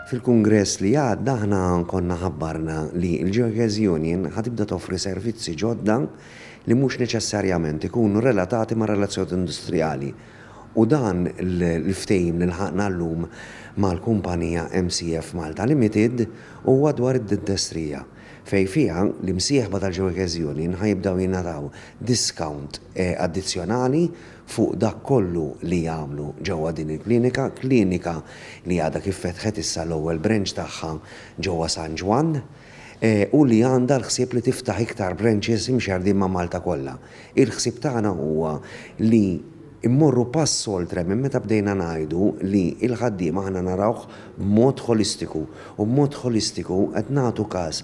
Fil-kungress li għadda aħna konna ħabbarna li l-Gearcase Union ħa tibda toffri servizzi ġodda li mhux neċessarjament ikunu relatati mar-relazzjonijiet industrijali u dan l-ftehim li lħaqna llum mal-kumpanija MCF Malta Limited huwa dwar id-dintestrija fejn fiha l-imsieħba tal-Gearcase Union ħa jibdew jingħataw diskawnt addizzjonali fuq dak kollu li jagħmlu ġewwa din il-klinika, klinika li għadha kif fetħet issa l-ewwel branch tagħha ġewwa San Ġwann, u li għandha l-ħsieb li tiftaħ iktar branches imxerrdin ma' Malta kollha. Il-ħsieb tagħna huwa li mmorru pass oltre minn meta bdejna ngħidu li l-ħaddiem aħna narawh b'mod ħolistiku, u b'mod ħolistiku qed nagħtu każ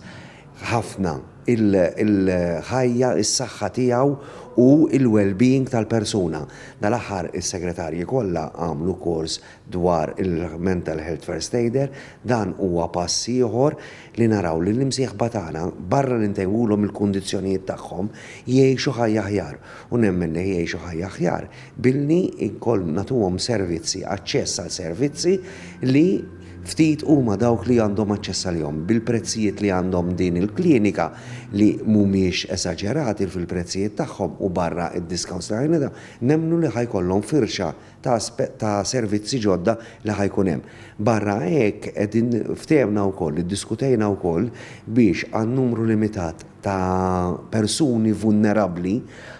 ħafna il-ħajja, is-saħħa tiegħu u l-wellbeing tal-persuna. Dal-aħħar is-segretarji kollha għamlu kors dwar il-Mental Health First Aider. Dan huwa pass ieħor li naraw li l-imsieħba tagħna, barra li ntejbulhom il-kundizzjonijiet tagħhom, jgħixu ħajja aħjar. U nemmen li jgħixu ħajja aħjar billi nagħtuhom servizzi, aċċess għal servizzi li, Ftit huma dawk li għandhom aċċess għalihom. Bil-prezzijiet li għandhom din il-klinika li mhumiex esaġerati fil-prezzijiet tagħhom u barra d-discounts li ħajnata, nemmnu li ħa jkollhom firxa ta' servizzi ġodda li ħa jkun hemm. Barra hekk qegħdin ftehemna wkoll, iddiskutejna wkoll biex għan-numru limitat, ta' persuni vulnerabbli,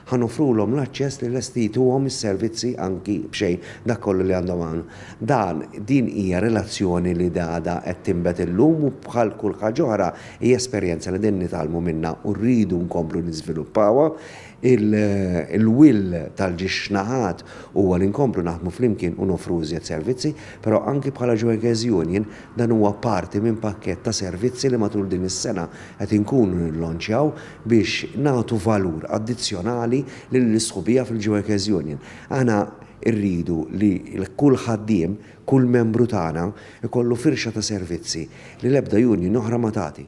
ħa noffrulhom l-aċċess li lesti jtuhom is-servizzi anki b'xejn, dak kollu li għandhom hawn. Dan, din hija relazzjoni li għadha qed tinbet illum u bħal kull ħaġa oħra hija esperjenza li qegħdin nitgħallmu minnha u rridu nkomplu niżviluppawha. Il-will tal-ġiex naħat huwa li nkomplu naħdmu flimkien u noffru iżjed servizzi, però anki bħala Joeges Union Dan huwa parti minn pakkett ta' servizzi li matul din is-sena qed inkunu nillonċjaw biex nagħtu valur addizzjonali lill-isħubija fil-Geueckers Union. Aħna rridu li kull ħaddiem, kull membru tagħna jkollu firxa ta' servizzi li l-ebda union oħra ma tagħti.